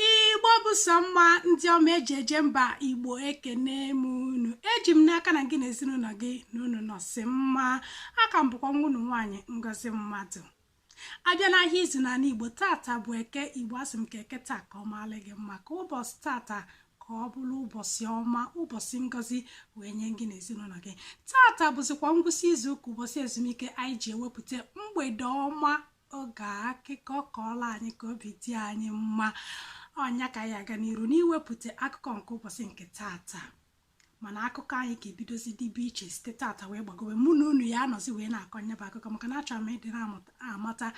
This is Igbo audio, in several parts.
igbo bụ sọ mma ndị ọma eji eje mba igbo ekene m unu eji m n'aka na gị na ezinụlọ gị na unu nọsị mma a ka m bụkwa nwa unu nwaanyị ngozi mmadụ a bịa n'ahịa izu n'ala igbo tata bụ eke igbo asị m ka eke taa ka ọ maala gị mma ka ụbọchị tata ka ọ bụrụ ụbọchị ọma ụbọchị ngozi wee nye gị na ezinụlọ gị tata bụzikwa ngwụsị izu ụka ụbọchị ezumike anyị ji ewepụta mgbede ọma oge akụkọ kọọla anyị ka obi dị anyị mma ọ nya ka anyị aga n'iru n'iwepụta akụkọ nke ụbọchị nke tata mana akụkọ anyị ga-ebidozi dịbe iche site tata wee gbagowe mụ na unu ya-anọzi wee na-akọ nya bụ akụkọ maka na achọrọ m ịdị na-amata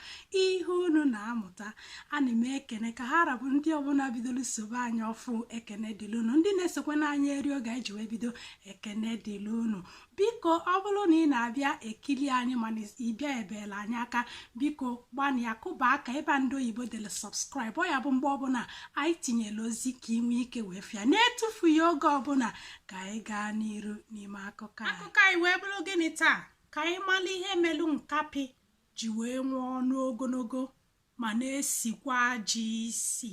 ihe unu na-amụta ana m ekene ka ha ra bụ ndị ọbụla bidoro sobe anyị ọfụụ ekene dịlị unu ndị na-esokwa na anyị eri oge anyị ji wee bido ekene dịlị unu biko ọ bụrụ na ị na-abịa ekili anyị mana ị bịa ebela anyị aka biko gbanịa kụba aka ebe ndị oyibo dere subscribe ọ ya bụ mgbe ọbụla anyị tinyere ozi ka ị nwee ike wee fụ ya na-etufughị oge ọbụla ka anyị gaa n'iru n'ime akụkọ akụkọ anyị wee bụrụ gịnị taa ka anyị mara ihe melu nkapị ji wee nwee ọnụ ogologo ma na-esikwa ajọ isi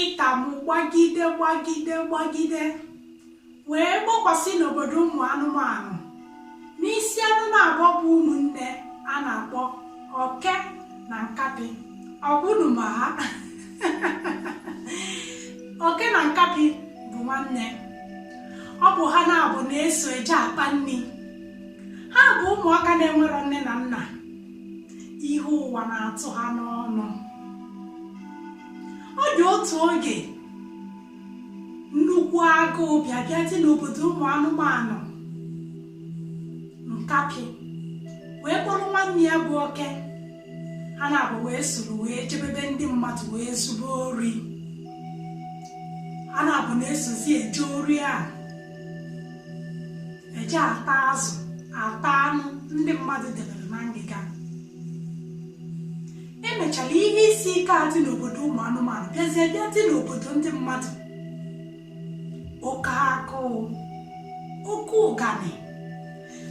ịta m gbagide gbagide gbagide wee gbakwasị n'obodo ụmụ anụmanụ n'isi anụ naabọ bụ ụmụnne a na-akpọ oke na nkapị ọbụnụ ma ha oke na nkapị bụ nwanne ọ bụ ha naabọ na-eso eje akpa nri ha bụ ụmụaka na-enwerọ nne na nna ihe ụwa na-atụ ha n'ọnụ ọ dị otu oge nnukwu agụụ bịa bịa dị n'obodo ụmụ anụmanụ nkapị wee kpọrọ nwanne ya bụ oke ha naabọ wee soro wee jebe be ndị mmadụ wee zube ori ha naabọ na-esozi eje ori a eje ata azụ ata anụ ndị mmadụ debere na ngịga emechara ihe isi ike a dị n'obodo ụmụ anụmanụ bịazie bịa dị n'obodo ndị mmadụ oke agụụ oke ụganị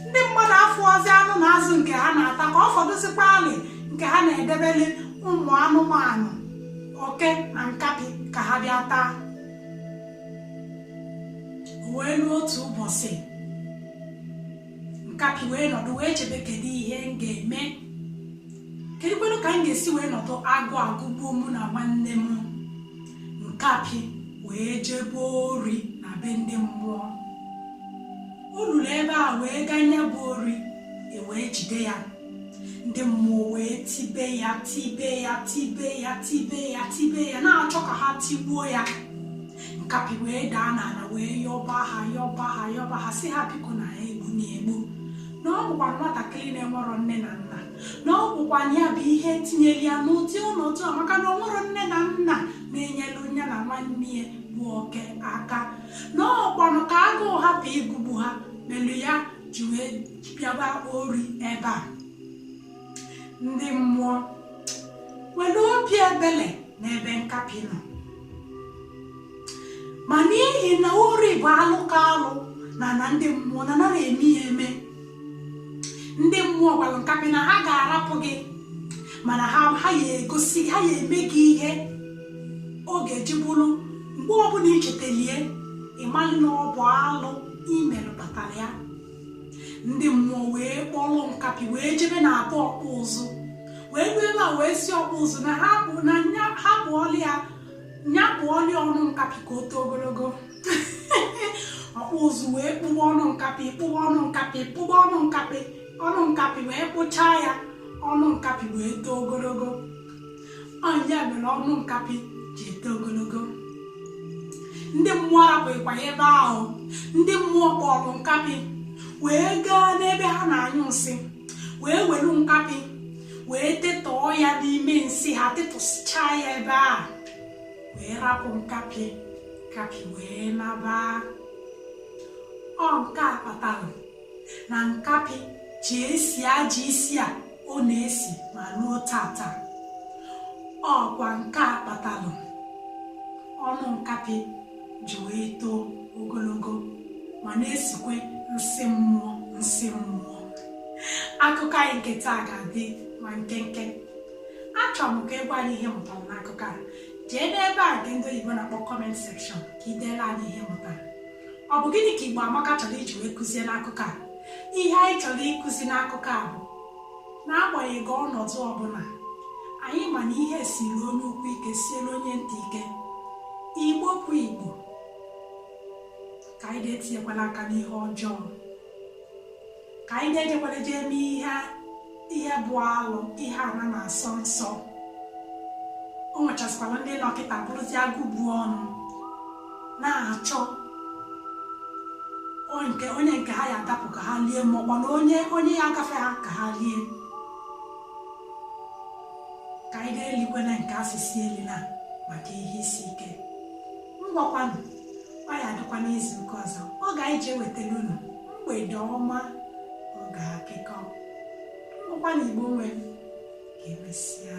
ndị mmadụ afụọzi anụ na azụ nke ha na-ata ka ọ fọdụzikwaalị nke ha na-edebeli ụmụ anụmanụ oke na nkapị ka ha bịa taa wee ruo otu ụbọchị nkapị wee nọdụ wee chebe kedu ihe m ga-eme kedụkwanụ ka m ga-esi wee nọdụ agụụ agụgbuo mụ na nwanne m nkapị wee jebe ori na be ndị mmụọ o ruru ebe ahụ wee gaa nya bụ ori e wee jide ya ndị mmụọ wee tibe ya tibe ya tibe ya tibe ya tibe ya na-achọ ka ha tigbuo ya nkapị wee daa n'ala wee yọba ha yọba ha yọba ha sị ha biko na ha egbuna egbu na ọ bụkwa nwatakịrị na-enwerọ nne na nna na ọ bụkwa ya bụ ihe tinyere ya n'ụdị ọnọdụ a maka na o nwerọ nne na nna na-enyelu ya na nwanne ya bụ oke aka na ọkwanụ ka agụụ hapụ ịgụgbu ha melu ya ji wee bịaba ori ebe a ndị mmụọ were obi ebele n'ebe nkapị nọ ma n'ihi na ori bụ alụ ka alụ n'ana ndị mmụọ na anarọ eme ya eme ndị mmụọ gwara nkapị na ha ga-arapụ gị mana ha ha ya egosi ha ya eme gị ihe ọ ga-eji bụrụ mgbe ọbụla i chetalụ ya ị malụ na ọ bụ alụ i melu kpatara ya ndị mmụọ wee kpọrọ nkapị wee jebe na be ọkpụ ụzụ wee ruo ebe a wee sị ọkpụ ụzụ na nya kpụọlụ ya ọnụ nkapị ka o too ogologo ọkpụ ụzụ wee kpụba ọnụ nkapị kpụba ọnụ nkapị kpụba ọnụ nkapị ọnụ nkapị wee kpụchaa ya ọnụ nkapị wee too ogologo ọ nya mere ọnụ nkapị ji eto ogologo ndị mmụọ arapụghịkwa ya ebe ahụ ndị mmụọ kpọrọ nkapị wee gaa n'ebe ha na-anyụ nsị wee welu nkapị wee tetọọ ya n'ime nsị ha tetọsịchaa ya ebe ahụ wee rapụ nkapị nkapị wee naba ọ nke a kpatara na nkapị ji esi ajọ isi a ọ na-esi ma ruo tata ọkwa nke a kpatalụ ọnụ nkapị ji wee too ogologo ma na-esikwe nsị mmụọ nsị mmụọ akụkọ anyị nke taa ga-adị ma nkenke achọrọ m ka ị gwa anyị ihe ị mụtara n'akụkọ a jee n'ebe a nke ndị oyibo na-akpọ comment section ka i deelu anyị ihe ị mụtara ọ bụ gịnị ka Igbo Amaka chọrọ iji wee kụzie n'akụkọ a ihe anyị chọrọ ịkụzi n'akụkọ a bụ n'agbanyeghị ọnọdụ ọbụla anyị ma na ihe siri onye ukwu ike siere onye nta ike igbo bụ igbo ka anyị na-etinyekwala aka n'ihe ọjọọ ka anyị na-ejekwala jee mee ihe ihe bụ alụ ihe a na na-asọ nsọ o nwechasịkwara ndị dọkịta bụrụzi agụ bu ọnụ na-achọ onye nke ha ya adapụ ka ha lie ma ọkwa na onye onye ya agafe ha ka ha lie ka anyị ga-elikwana nke a sị sị elina maka ihe isi ike ngwakwanụ ọ ya adịkwa n'izu nke ọzọ oge e ji ewetara unu mgbede ọma oge akụkọ ngwakwanụ igbo nwe ka emesịa